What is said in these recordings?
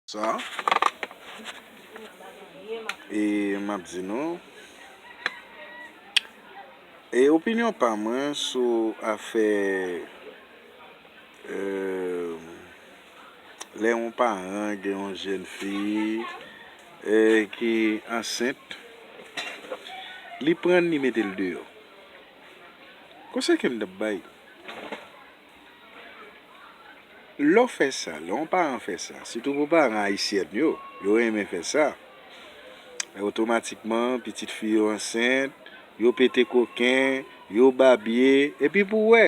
Sa. E map di nou. E opinyon pa mwen sou afè. Eee. Lè yon paran gen yon jèn fi. E ki ansent. Li prann li metel deyò. Konsèy kem tap bay. Lè w fè sa, lè yon paran fè sa, sitou pou paran ayisyèn yo, yo renmen fè sa, otomatikman pitit fi yo ansent, yo pete koken, yo babye, epi pou w wè,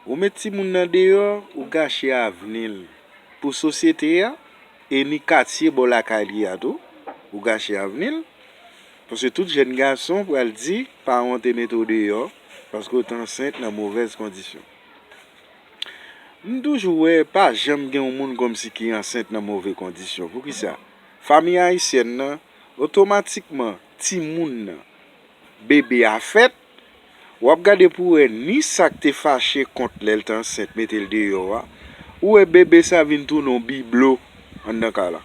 ou met timoun nan deyò, ou gache avni l pou sosyete a, e ni katye bò lakay li a tou, ou gache avni l. Paske tout jèn gason pral di paran w te mete w deyò paske w t ansent nan movèz kondisyon. M toujou wè pa janm gen yon moun kòmsi ki ansent nan move kondisyon. Poukisa? Fanmi ayisyèn nan, otomatikman timoun nan, bebe a fèt, Wap gade pou wè ni sak te fache kont lèl t ansent metel deyò a ou wè bebe sa vin tounen yon biblo anndan kay la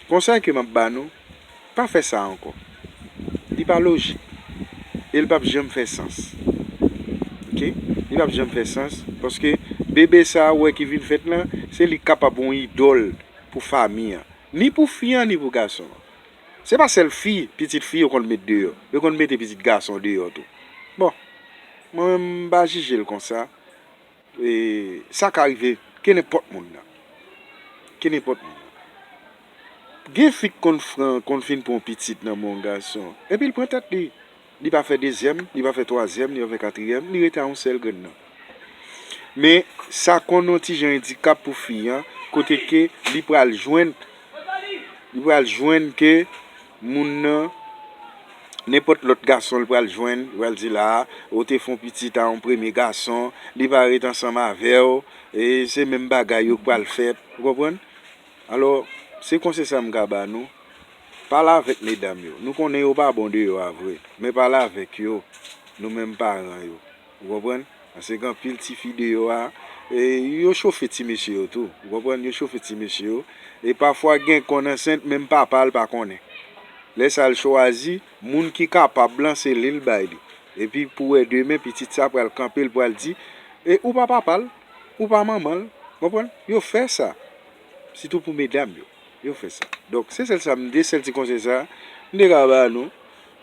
konsèy ke map ba nou pa fè sa ankò li pa lojik el pap janm fè sans ok li pap janm fè sans paske bebe sa ou wè ki vin fèt lan se li kapab yon idòl pou fami an ni pou fi an ni pou gason an. Se pa sèl fi, pitit fi yo konn met deyò. Yo konn mete pitit gason deyò tou. Bon, mwen menm m pa jije l konsa. E sa ka rive kenenpòt moun nan. Kenenpòt moun nan. Gen fi k konn fran, konn fin pran yon pitit nan men yon gason. Epi l pran tèt li. Li pa fè dezyèm, li pa fè twazyèm, li pa fè katriyèm, li rete a yon sèl grenn nan. Men, sa konn yon ti jan endikap pou fi an, kote ke li pral jwenn, li pral jwenn ke moun nan, nenpòt lòt gason li pral jwenn, li pral di la a, ou te fè yon pitit a yon premye gason, li pa ret ansanm avè ou, e se menm bagay yo k pral fèt, ou konprann? Alò, se konsèy sa m ka ba nou, pale avèk medam yo. Nou konnen yo pa bon deyò a vre, men pale avèk yo, nou menm paran yo. Ou konprann? Pase gen anpil ti fi deyò a, e yo chofe ti mesye yo tou. Ou konprann? Yo chofe ti mesye yo. E pafwa gen konn ansent, menm papa l pa konnen. Lè sa l chwazi, moun ki kapab lan, se li l bay li. Epi pou wè demen, pitit sa pral kanpe, l pral di, E ou pa papa l, ou pa manman l. Konprann? Yo fè sa. Sitou pou medam yo. Yo fè sa. Donk, se sèl sa m de sèl ti konsèy sa m te ka ba nou.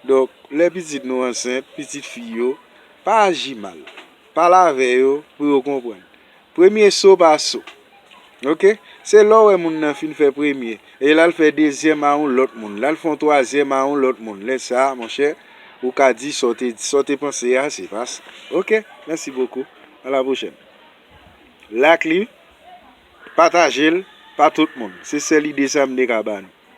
Donk, lè pitit nou ansent, pitit fi yo, pa aji mal. Pale avè yo pou yo konprann. Premye so pa so. Ok? Se lè w wè moun nan fin fè premye, e la l fè dezyèm a yon lòt moun, la l fè yon twazyèm a yon lòt moun, lè sa a, monchè, ou ka di sa w te di, sa w te panse a, se pa sa. Ok? Mèsi bokou. A la pwochèn. Lak li. Patajel pa tout moun. Se sel ide sa m te ka ba nou.